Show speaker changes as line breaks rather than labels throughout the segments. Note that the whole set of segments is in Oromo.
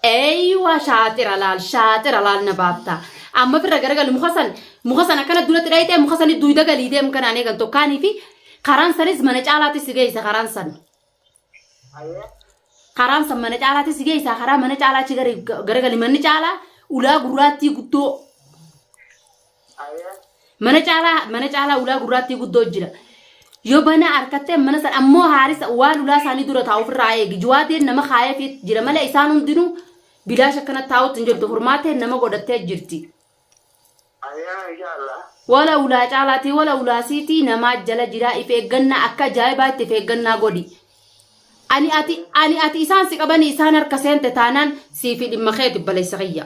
Eeyyuwa shaaxira laal shaaxira laal na baafta. Amma firra garagali muka san muka san akkana duratti dhayitee muka sani duyda galii deem kanaan eegan tokkaanii fi karaan sanis mana caalaatti si geessa karaan san. Karaan san mana caalaatti si geessa karaa mana caalaa achi gari- garagali manni caalaa ulaa gurraattii guddoo mana caalaa mana caalaa ulaa gurraattii guddoo jira yoo banaa harkattee mana san ammoo haarisa waan ulaa isaanii dura taa'u ofirraa eegi juwaadeen nama kaayee fi jira malee isaan hundinuu bilaash akkana taa'utti hin jirtu furmaatee nama godhattee jirti wala ulaa caalaatii wala ulaa siitii namaa jala jiraa if eeggannaa akka ajaa'ibaa itti if eeggannaa godhi ani ati ani ati isaan si qabanii isaan harka seente taanaan siifi dhimma keeti balessa kiyya.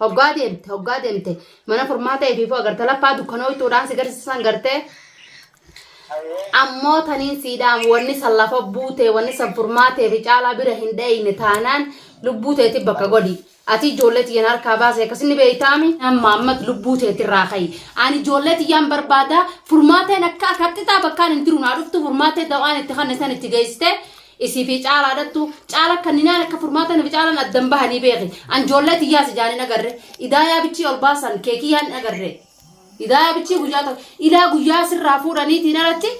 Hoggaa deemte, hoggaa deemte. Mana furmaata efiifuu agarta lapha'aa dukkanooytuudhaan si garsiisa san gartee. Ayyee. Ammoo taniin siidhaam wanni san lafa buutee wanni san furmaatee fi caalaa bira hin dhayne taanaan lubbuu teeti bakka godhi. Ati ijoollee tiyyan harkaa baase akkasin ni beeytaami. Amma ammat lubbuu teeti irraa ka'i. Ani ijoollee tiyyaan barbaada furmaateen akka akka xixaa bakkaan hin jiru naa dhuftu furmaatee dawaan itti kanne san itti geessitee Isii fi caalaa dhattu caala kanninaan akka furmaata nufi caalan addan bahanii beeki an joollee tiyyaa si jaanin agarre idaayaa bichii ol baasan keekiyyaa hin agarre idaayaa bichii guyyaa ta'u ilaa guyyaa sirraa fuudhaniitiin alatti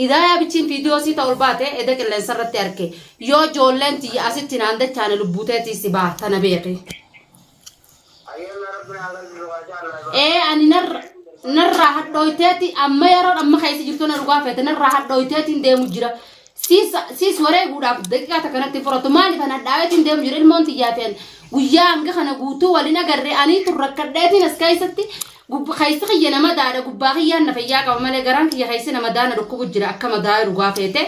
idaayaa bichiin fiidiyoo sii ta'u ol baate eda qilleensa irratti arke yoo joolleen tiyya asitti naan dachaane lubbuuteetii si baha tana beeki. ee ani narra narraa hadhooyteeti amma yeroon amma keessa jirtu na dhugaa feete narraa hadhooyteetiin deemu jira siis siis wareeguudhaaf daqiiqaa takka natti furatu maaliif an hadhaaweetiin deemu jira ilmoon tiyyaa fi ani guyyaa hanga kana guutuu waliin agarree aniitu rakkadheetiin as keessatti Gubba keessi kiyya na madaadha gubbaa kiyyaan na fayyaa qaba malee garaan kiyya keessi na madaa na dhukkubu jira akka madaa'e dhugaa feete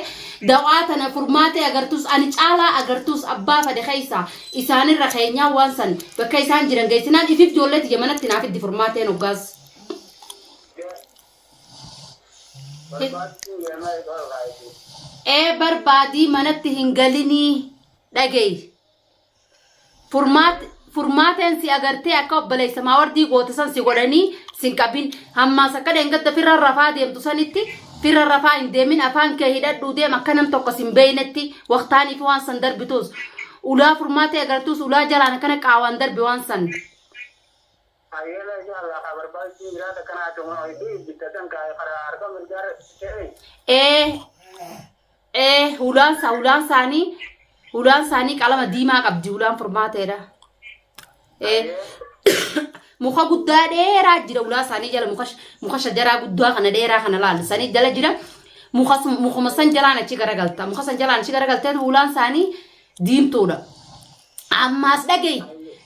dawaa tana furmaatee agartuus ani caalaa agartuus abbaa fade keessa isaanirra keenyaa waan san bakka isaan jiran geessinaan ifif ijoollee tiyya manatti naaf iddi furmaateen hoggaas. Barbaachuu yennaa isaa irraa eeguun. Ee barbaadii manatti hin galinii dhageey. Furmaat furmaateen si agartee akka obboleessa maawardii goote san si godhanii sin qabin hammaas akka dheengadda firra rafaa deemtu sanitti firra rafaa hin deemin afaan kee hidhadhuu deem akka nam tokko sin beeynetti waqtaanii fi waan san darbituus ulaa furmaatee agartuus ulaa jalaan akkana qaawaan darbi waan san. Hayyee mee inshaa Allah haa barbaachisu jiraata akkana haa tumaa wayiti bitta san kaa karaa harka mirgaa irra seeni. ee ee hulaan isaa hulaan isaanii hulaan isaanii qalama diimaa qabdi hulaan furmaateedha ee muka guddaa dheeraa jira ulaa isaanii jala muka muka shajaraa guddaa kana dheeraa kana laala isaanii jala jira muka sun- mukuma san jalaan achi garagalta muka san jalaan achi garagalteen ulaan isaanii diimtuudha Ammaas dhagayi.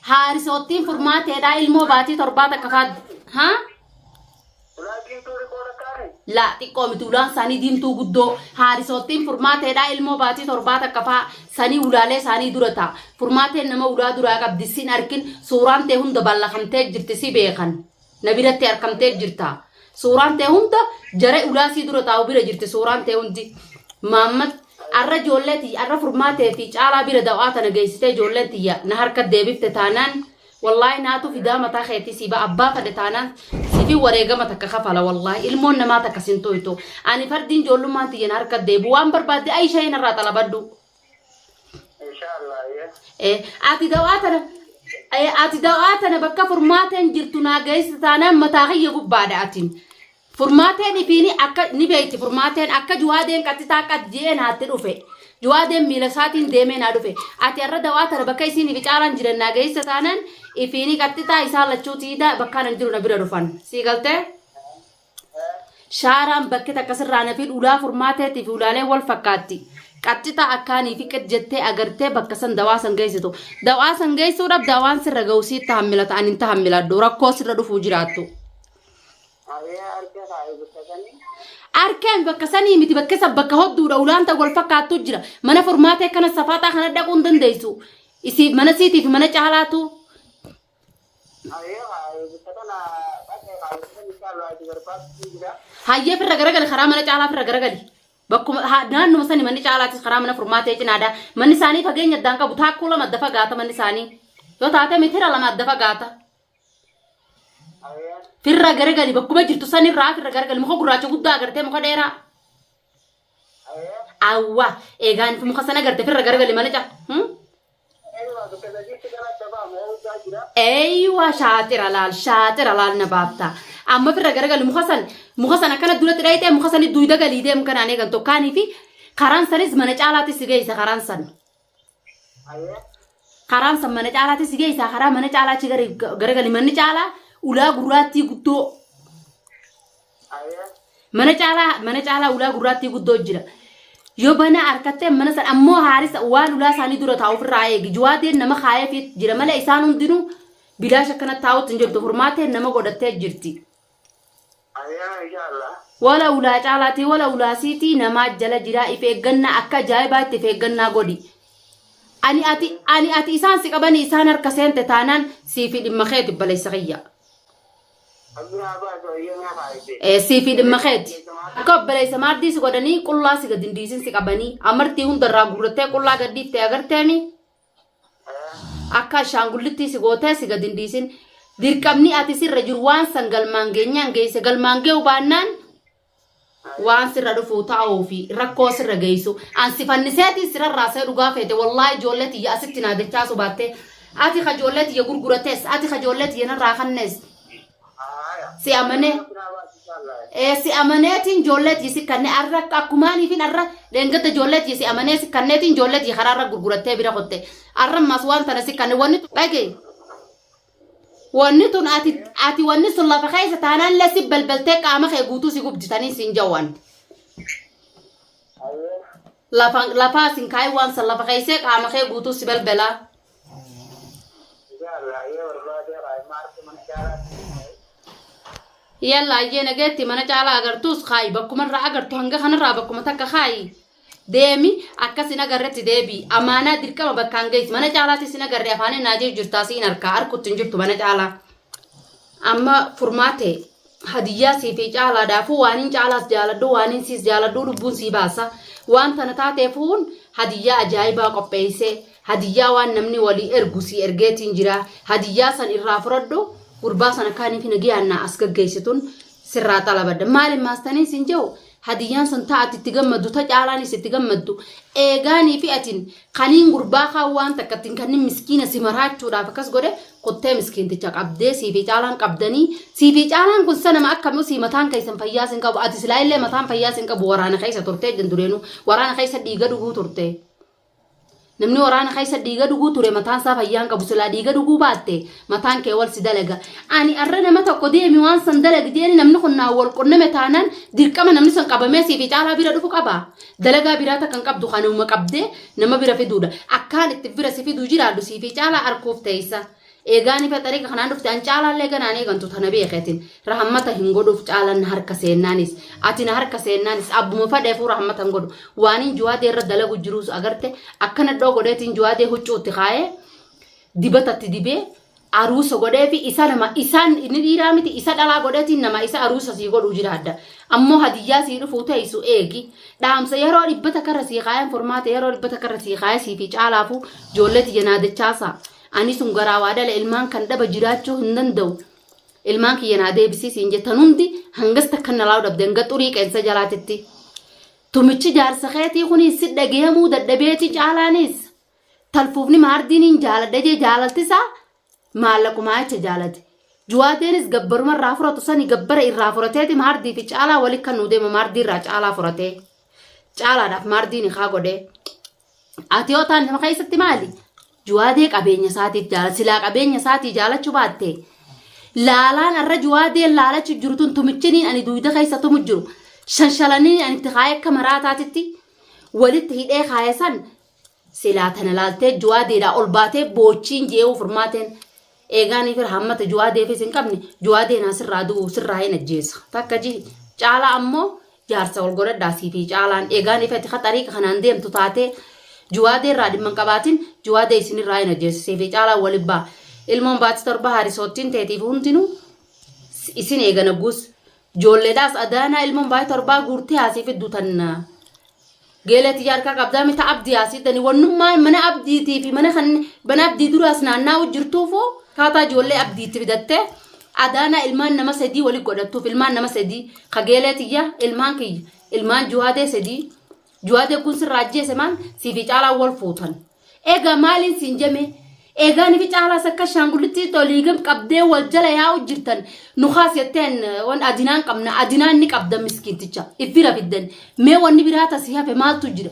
Haarisoottiin furmaateedhaa ilmoo baatii torbaa takka faaddu. Haa? Ulaa diimtuu riqoo lakkaa'ame. Laa xiqqoo miti ulaan isaanii diimtuu guddoo haarisoottiin furmaateedhaa ilmoo baatii torbaa takka faa sanii ulaalee isaanii dura ta'a. Furmaateen nama ulaa duraa qabdi sin arkin suuraan tee hunda ballakamtee jirti si beekan. na biratti arkamtee jirta suuraan tee hunda jara ulaasii dura taa'u bira jirti suuraan tee hundi maammat arra ijoollee tiyya arra furmaatee fi caalaa bira da'aa tana geessitee ijoollee tiyya na harka deebifte taanaan wallaahi naatu fidaa mataa keetii si ba abbaa fadhe taanaan sifi wareegama takka kafala wallaahi ilmoon namaa takka sin tuytu ani fardiin ijoollummaan tiyya na harka deebu waan barbaadde ayisha hin irraa xalabadhu inshallah ye Eh, ati dawaa tana eh, ati dawaa tana bakka furmaateen jirtu naa geessi taanaan mataa kiyya gubbaadha atiin furmaateen ifiini akka ni beekti furmaateen akka juwaadeen qaxitaa qad je'ee naatti dhufe juwaadeen miila isaatiin deemee naa dhufe ati har'a dawaa tana bakka isiin ifi caalaan jiran naa geessa taanaan ifiini qaxitaa isaan lachuu tiida bakkaan an jiru na bira dhufan sii galtee Shaaraan bakki takka sirraa na fidhu ulaa furmaateetii fi ulaalee wal fakkaatti. Qaxxitaa akkaanii fi qid jettee agartee bakka san dawaa san geessitu. Dawaa san geessuudhaaf dawaan sirra ga'u sii tahammilata ani hin tahammiladhu rakkoo sirra dhufuu jiraattu. Abee harka kaa'e bakka sanii. Arkeen bakka sanii miti bakka san bakka hodduudha ulaan ta'u wal fakkaattu jira. Mana furmaatee kana safaaxaa kana dhaquu hin dandeessu. Isiif mana siitiif mana caalaatu Ayee haa eebbisa kana dhaqee haa eebbisa inshaallah ati barbaachuu jira. Hayyee firra garagali karaa mana caalaa firra garagali. Bakkuma ha- naannuma sani manni caalaatis karaa mana furmaatee cinaadha. Manni isaanii fageenya addaan qabu taakkuu lama adda fagaata manni isaanii. Yoo taate mitira lama adda fagaata. Ayee Firra garagali bakkuma jirtu sanirraa firra garagali muka gurraacha guddaa agartee muka dheeraa. ayee Awwa eegaan muka sana agarte firra garagali mana caalaa. Hmm? Eeywa bakka sadiitti gara adda ba'amu hawwisaa jira. Eeywa shaaxira laal shaaxira laal na baafta. Amma firra garagalli muka san muka san akkana duratti dhayitee muka sani duuyda galii deemu kanaan eegan tokkaanii fi karaan sanis mana caalaatti si geessa karaan san. Ayee. Karaan san mana caalaatti si geessa karaa mana caalaa achi gari- garagalli manni caalaa ulaa gurraattii guddoo Mana caalaa mana caalaa ulaa gurraattii guddoo jira. Yoo banaa harkattee mana san ammoo haarisa waan ulaa isaanii dura taa'u ofirraa eegi. Juwaateen nama kaayeefi jira malee isaan hundinuu bilaash akkana taa'utti hin jirtu. Furmaatee nama godhattee jirti. Wala ulaa caalaatii wala ulaa siitii namaa jala jiraa if eeggannaa akka ajaa'ibaa itti if eeggannaa godhi. Ani ati ani ati isaan si qabanii isaan harka seente taanaan siifi dhimma keeti balessa kiyya. Abduraa baas wayyoo naa faayisee. Siifii dhimma keeti. Akka obboleessa maardii si godhanii qullaa si gad hin dhiisin si qabanii. Amartii hundarraa guurrattee qullaa gad dhiifte agarteemi. Akka ashaangullittii si gootee si gad hin dhiisin. Dirqamni ati sirra jiru waan san galmaan geenyaan geesse galmaan gee'u baannaan waan sirra dhufu ta'uu fi rakkoo sirra geessu an si fanniseetiin sirarraa see dhugaa feete wallaahi ijoollee tiyya asitti naa dachaasu baatte ati ka ijoollee tiyya gurgurates ati ka ijoollee tiyya narraa kannes si amanee ee si amaneetiin ijoollee tiyya si kannee arra akka akkumaaniifin arra dheengadda ijoollee tiyya si amanee si kanneetiin ijoollee tiyya karaa irra gurgurattee bira kotte arra ammas waan tana si kanne wanni dhagee Wanni tun ati ati wanni sun lafa keessa taanaan illee si balbaltee qaama kee guutuu si gubjitanii siin jaa wanti. Ayyee. Lafa lafaa sin kaayii waan san lafa keessee qaama kee guutuu si balbalaa. Inshallah ayyee barbaadee kaayee maarti mana caalaatti ni kaayee. Yalla ayyee nageetti mana caalaa agartuus kaayi bakkuma irraa agartu hanga kanarraa bakkuma takka kaayi deemi akka sin agarretti deebi'i amaanaa dirqama bakkaan geessi mana caalaatti sin agarre afaaniin naa jiru jirtaa siin harkaa harkutti hin jirtu mana caalaa amma furmaate hadiyyaa sii fi caalaadhaafuu waaniin caalaas jaaladhu waaniin siis jaaladhu lubbuun sii baasa waan tana taateefuun hadiyyaa ajaa'ibaa qopheesse hadiyyaa waan namni walii ergu sii ergeetiin jira hadiyyaa san irraa furadhu gurbaa san akkaanii fi nagiyaan naa as gaggeessitun sirraa xalabadha maali maastaniin sin jehu hadiyyaan san taa ati itti gammaddu ta caalaanis itti gammaddu eegaanii fi atin kaniin gurbaa kaan waan takka ittiin kannin miskiina si maraachuudhaaf akkas godhe kuttee miskiinticha qabdee siifi caalaan qabdanii siifi caalaan kun sanama akkami usii mataan keessan fayyaas hin qabu ati silaa illee mataan fayyaas hin qabu waraana keessa turtee jan dureenuu waraana keessa dhiiga dhuguu turtee. Namni waraana keessa dhiiga dhuguu ture mataan isaa fayyaa hin qabu silaa dhiiga dhuguu baatte mataan kee wal si dalaga. Ani arra nama tokko deemi waan san dalagi jeeni namni kun naa wal qunname taanaan dirqama namni san qabamee siif caalaa bira dhufu qaba. Dalagaa biraa takka hin qabdu kanuma qabdee nama bira fiduudha. Akkaan itti bira si fiduu jiraadhu siif caalaa arkuuf teessa. Eegaani faxarii ka kanaan dhufte an caalaallee ganaan eegantu tana beeke atin rahammata hin godhuuf caalan na harka seennaanis ati na harka seennaanis abbuma fadheefuu rahammata hin godhu waanin juwaadee irra dalagu jiruus agarte akkana dhoo godheetiin juwaadee huccuutti kaayee dibatatti dibee aruusa godhee fi isa nama isaan inni dhiiraa miti isa dhalaa godheetiin nama isa aruusa sii godhuu jiraadda ammoo hadiyyaa sii dhufuu teessu eegi dhaamsa yeroo dhibbata karra sii kaayeen furmaata yeroo dhibbata karra sii kaayee sii fi caalaafuu joollee tiyya naa dachaasaa Ani sun garaa waa dhala ilmaan kan dhaba jiraachuu hin danda'u. Ilmaan kiyya naa deebisii siin jettan hundi hangas takka na laalu dhabde hanga xurii qeensa jalaatitti. Tumichi jaarsa keetii kunis si dhagayamuu dadhabeeti caalaanis. Talfuufni maardiiniin jaaladha jee jaalaltisaa maallaqumaa jecha jaalate. Juwaadeenis gabbaruma irraa furatu sani gabbara irraa furateeti maardii fi caalaa wali kan nuu deema maardii irraa caalaa furatee. Caalaadhaaf maardiin ikaa godhee. Ati yoo taan nama keessatti maali? Juwaadee qabeenya isaatiif jaala. Silaa qabeenya isaatii jaalachuu baatte. Laalaan har'a juwaadeen laalachuu jiru tun tumichiniin ani duuda keessa tumu jiru. Shanshalanii ani itti kaayee akka maraataatitti walitti hidhee kaaya san silaa tana laaltee juwaadeedhaa ol baatee boochiin jee'uu furmaateen Eegaanii fira hammata Juwaadeefis hin qabne Juwaadeen haa sirraa du'u sirraa hin ajjeesa. Takka ji caalaa ammoo jaarsa wal godhadhaa sii fi caalaan eegaan ifati ka xariiqa kanaan deemtu taatee Juwaadee irraa dhimma hin qabaatin Juwaadee isinirraa hin ajjeesa sii fi caalaan wal ibbaa. Ilmoon baati torba haarisoottiin teetiif hundinuu isin eegana guus Ijoolleedhaas adaanaa ilmoon baay'ee torbaa guurtee haasii fidduu tanna. Geelee tiyya harkaa qabdaa mita abdii haasii tani wannummaa mana abdiitii fi mana kan mana abdii duraas naannaa'u jirtuufuu kaataa ijoollee abdiitti fidattee adaanaa ilmaan nama sadii wali godhattuuf ilmaan nama sadii ka geelee tiyya ilmaan kiyya ilmaan juwaadee sadii juwaadee kun sirraa ajjeese maan siifii caalaa wal fuutan. Egaa maaliin siin jemee? Egaa nifi caalaas akka shaangullitti oliigam qabdee wal jala yaa'u jirtan nu kaas jetteen wan adinaan qabna adinaan ni qabda miskiinticha iffira fiddan mee wanni biraa tasii hafe maaltu jira